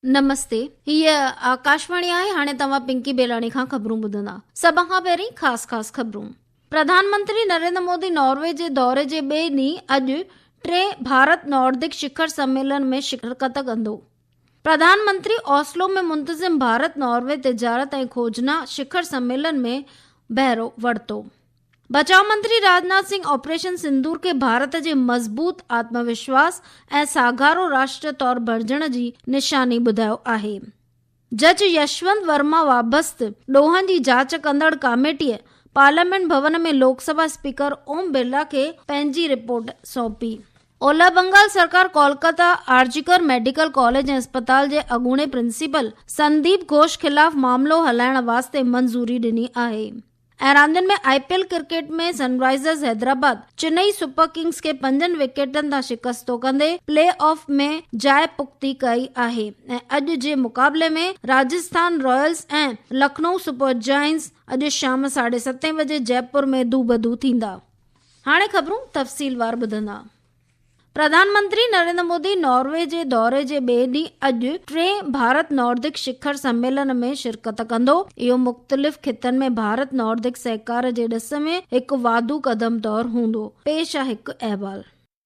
نمستي هي آڪاشواڻي آهي هاڻي توهان پنڪي بيلاڻي کان خبرون ٻڌندا سڀ کان پهرين خاص خاص خبرون پرڌانمنتري نريندر مودي ناروي جي دوري جي ٻئي ڏينهن اڄ ٽي ڀارت ناردڪ شکر سميلن ۾ شرڪت ڪندو پرڌان منتري اوسلو ۾ منتظم ڀارت ناروي تجارت ۽ کوجنا شکر سميلن ۾ بهرو ورتو. بچاء منتري راجناٿ سنگهه آپريشن سندور کي ڀارت جي مضبوط آتم وشواس ۽ ساگهارو راشٽر طور بڻجڻ جي نشاني ٻڌايو آهي. جج يشونت ورما وابسته ڏوهن جي جاچ ڪندڙ ڪاميٽيء پارليامينٽ ڀون ۾ لوڪ سڀا اسپيڪر اوم برلا کي پنهنجي رپورٽ سونپي. اولهه بنگال سرڪار ڪولڪته آرجيڪر ميڊيڪل ڪاليج ۽ اسپتال جي اڳوڻي پرنسپل سنديپ گهوش خلاف معاملو هلائڻ واسطي منظوري ڏني آهي ۽ راندين ۾ I P L cricket ۾ Sunrisers Hyderabad Chennai super Kings کي پنجن وڪيٽن تان شڪستو ڪندي پلي آف ۾ جاء پختي ڪئي آهي ۽ اڄ جي مقابلي ۾ Rajasthan royals ۽ Lucknow super giants اڄ شام ساڍي ستين بجي جئپور ۾ دوبدو ٿيندا. هاڻي خبرون تفصيل وار ٻڌندا. پرڌان منتري نريندر مودي ناروي جي دوري جي ٻئي ڏينهن اڄ ٽئين ڀارت ناردڪ شکر سميلن ۾ شرڪت ڪندو. اهو مختلف خطن ۾ ڀارت ناردڪ سهڪار جي ڏس ۾ هڪ واڌو قدم طور هوندو، پيش آهي هڪ احوال.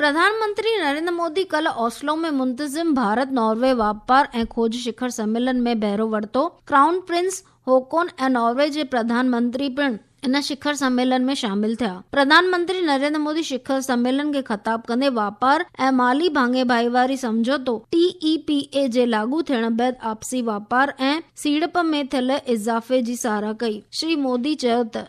پرڌان منتري نريندر مودي ڪلهه اوسلو ۾ منتظم ڀارت ناروي واپار ۽ کوج شکر سميلن ۾ بهرو ورتو، ڪرائون پرنس هوڪون ۽ ناروي جي پرڌان منتري پڻ ان شکر سميلن ۾ شامل ٿيا. پرڌان منتري نريندر مودي شکر سميلن کي خطاب ڪندي واپار ۽ مالي ڀاڱي ڀائيواري سمجهوتو، ٽي اي پي اي، جي لاڳو ٿيڻ بعد آپسي واپار ۽ سيڙپ ۾ ٿيل اضافي جي ساراهه ڪئي. شري مودي چيو ته.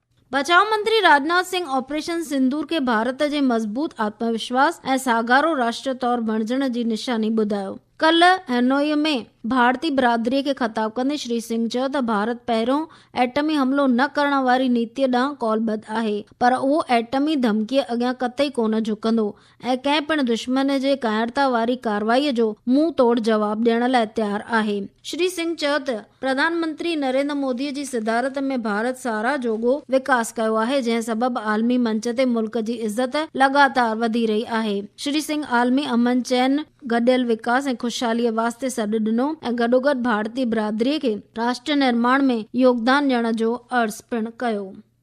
بچاء منتري راجناٿ سنگهه آپريشن سندور کي ڀارت جي مضبوط آتم وشواس ۽ ساڳارو راشٽر طور بڻجڻ جي نشاني ٻڌايو. ڪلهه هنوئي ۾ ڀارتي برادري کي خطاب ڪندي شري سنگهه چيو ته ڀارت پهريون ايٽمي حملو نه ڪرڻ واري نيتيء ڏانهن قولبد آهي پر اهو ايٽمي ڌمڪيء اڳيان قطعي ڪونه جهڪندو. ۽ ڪنهن پڻ دشمن جي ڪاهڙتا واري ڪارروائي جو منهن توڙ جواب ڏيڻ لاء تيار آهي. شري سنگهه چيو ته پرڌان منتري نريندر مودي جي صدارت ۾ ڀارت ساراهه جوڳو وڪاس ڪيو آهي جنهن سبب عالمي منچ تي ملڪ جي عزت لڳاتار وڌي رهي آهي. شري سنگهه عالمي امن چين، گڏيل وڪاس ۽ خوشحالي واسطي سڏ ڏنو ۽ گڏوگڏ ڀارتي برادري کي راشٽر نرماڻ ۾ يوگدان ڏيڻ جو عرض پڻ ڪيو.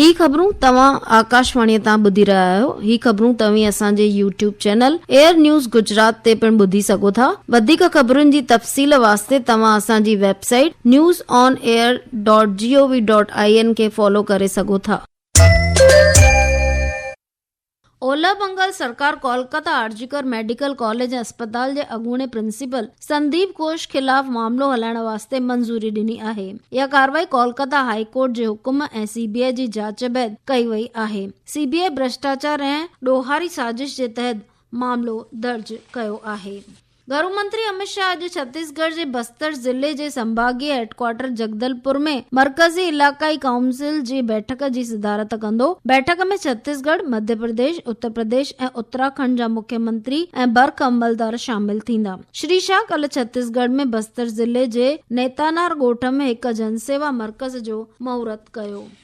هي خبرون توهان آڪاشواڻيء تان ٻڌي رهيا آهيو. هي خبرون توهين اسان جي YouTube channel AIR news Gujarat تي پڻ ٻڌي سگهو ٿا. وڌيڪ خبرن جي تفصيل واسطي توهان اسان جي website news on AIR dot G O V dot I N کي فالو ڪري سگهو ٿا. اولهه بنگال سرڪار ڪولڪته آرجيڪر ميڊيڪل ڪاليج ۽ اسپتال جي اڳوڻي پرنسپل سنديپ گهوش خلاف معاملو هلائڻ واسطي منظوري ڏني آهي. اها ڪارروائي ڪولڪته هاء ڪورٽ جي حڪم ۽ سي بي آء جي جاچ بعد ڪئي وئي آهي. سي بي آء ڀرشٽاچار ۽ ڏوهاري سازش جي تحت معاملو درج ڪيو آهي. گهرو منتري اميت شاهه اڄ ڇتيس ڳڙهه جي بستر ضلعي جي سنڀاڳي هيڊڪوارٽر جڳدلپور ۾ مرڪزي علائقائي ڪائونسل جي بيٺڪ جي صدارت ڪندو. بيٺڪ ۾ ڇتيس ڳڙهه، مڌيه پرديش، اتر پرديش ۽ اتراکنڊ جا مکيه منتري ۽ برک عملدار شامل ٿيندا. شري شاهه ڪلهه ڇتيس ڳڙهه ۾ بستر ضلعي جي نيتانار ڳوٺ ۾ هڪ جنسيوا مرڪز جو مهورت ڪيو.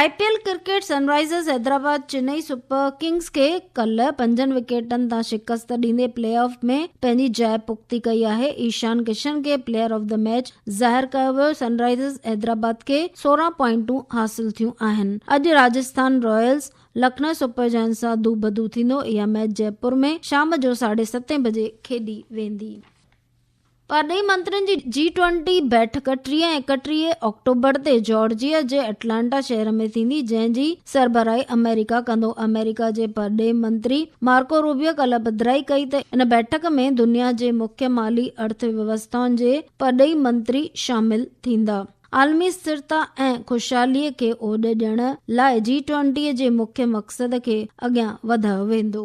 I P L cricket Sunrisers Hyderabad Chennai super Kings کي ڪلهه پنجن وڪيٽن تان شڪست ڏيندي پلي آف ۾ پنهنجي جاء پختي ڪئي آهي، ايشان ڪشن کي پليئر آف دي ميچ ظاهر ڪيو ويو، سن رائزرز حيدرآباد کي سورهن پوائنٽون حاصل ٿيون آهن، اڄ Rajasthan royals Lucknow super giants سان دو بدو ٿيندو، اها ميچ جئپور ۾ شام جو ساڍي ستين بجي کيڏي ويندي. پرڏيهي منترين جي جي ٽوئنٽي بيٺڪ ٽيهه ۽ اڪٽيهه آڪٽوبر تي جارجيا جي اٽلانٽا شهر ۾ ٿيندي جنهن جي سربراهي آمريڪا ڪندو آمريڪا جي پرڏيهي منتري مارڪو روبيو ڪلهه پڌرائي ڪئي ته ان بيٺڪ ۾ دنيا جي مکيه مالي ارٿ ويوسٿائن جي پرڏيهي منتري شامل ٿيندا عالمي اسٿرتا ۽ خوشحالي کي اوڏ ڏيڻ لاء جي ٽوئنٽي جي مکيه مقصد کي اڳيان وڌايو ويندو.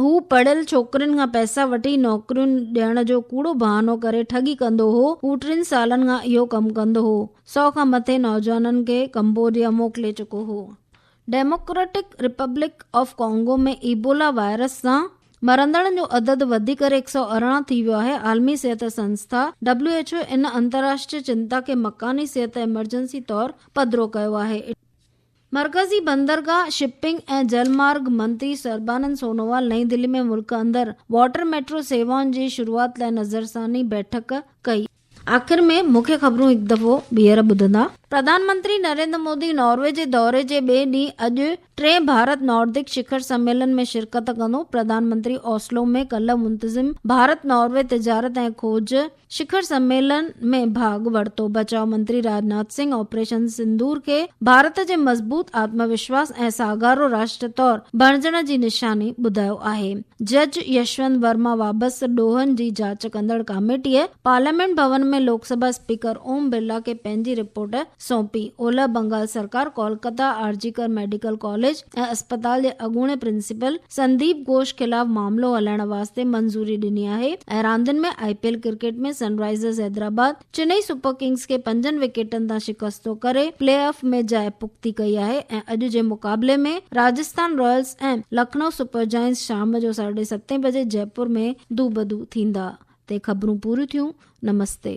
هو پڙهيل ڇوڪرين کان پئسا وٺي نوڪريون ڏيڻ جو ڪوڙو بهانو ڪري ٺڳي ڪندو هو. هو ٽن سالن کان اهو ڪم ڪندو هو. سؤ کان مٿي نوجوانن کي ڪمبوڊيا موڪلي چڪو هو. Democratic Republic of Congo ۾ Ebola virus سان مرندڙن جو عدد وڌي ڪري هڪ سؤ ارڙهن ٿي ويو آهي. عالمي صحت سنسٿا، ڊبليو ايڇ او، ان انتراشٽري چنتا کي مڪاني صحت ايمرجنسي طور پڌرو ڪيو آهي. مرڪزي بندرگاهه، شپنگ ۽ جل مارگ منتري سربانند سونووال نئين دهلي ۾ ملڪ اندر واٽر ميٽرو سيوائن جي شروعات لاء نظرثاني بيٺڪ ڪئي. آخر ۾ مکيه خبرون هڪ دفعو ٻيهر ٻڌندا. پرڌان منتري نريندر مودي ناروي جي دوري جي ٻئي ڏينهن اڄ ٽئين ڀارت ناردڪ شکر سميلن ۾ شرڪت ڪندو. پرڌان منتري اوسلو ۾ ڪلهه منتظم ڀارت ناروي تجارت ۽ کوج، شکر سميلن ۾ ڀاڳ ورتو، بچاء منتري راجناٿ سنگهه آپريشن سندور کي ڀارت جي مضبوط آتم وشواس ۽ ساڳارو راشٽر طور بڻجڻ جي نشاني ٻڌايو آهي، جج يشونت ورما وابسته ڏوهن جي جاچ ڪندڙ ڪاميٽيء پارليامينٽ ڀون ۾ لوڪ سڀا اسپيڪر اوم برلا کي پنهنجي رپورٽ سونپي. اولهه بنگال سرڪار ڪولڪتا آرجيڪر ميڊيڪل ڪاليج ۽ اسپتال جي اڳوڻي پرنسپل سنديپ گهوش خلاف معاملو هلائڻ واسطي منظوري ڏني آهي ۽ راندين ۾ I P L cricket ۾ Sunrisers Hyderabad Chennai super Kings کي پنجن وڪيٽن تان شڪستو ڪري پلي آف ۾ جاء پختي ڪئي آهي ۽ اڄ جي مقابلي ۾ Rajasthan royals ۽ Lucknow super giants شام جو ساڍي ستين بجي جئپور ۾ دوبدو ٿيندا. تي خبرون پوريون ٿيون نمستي.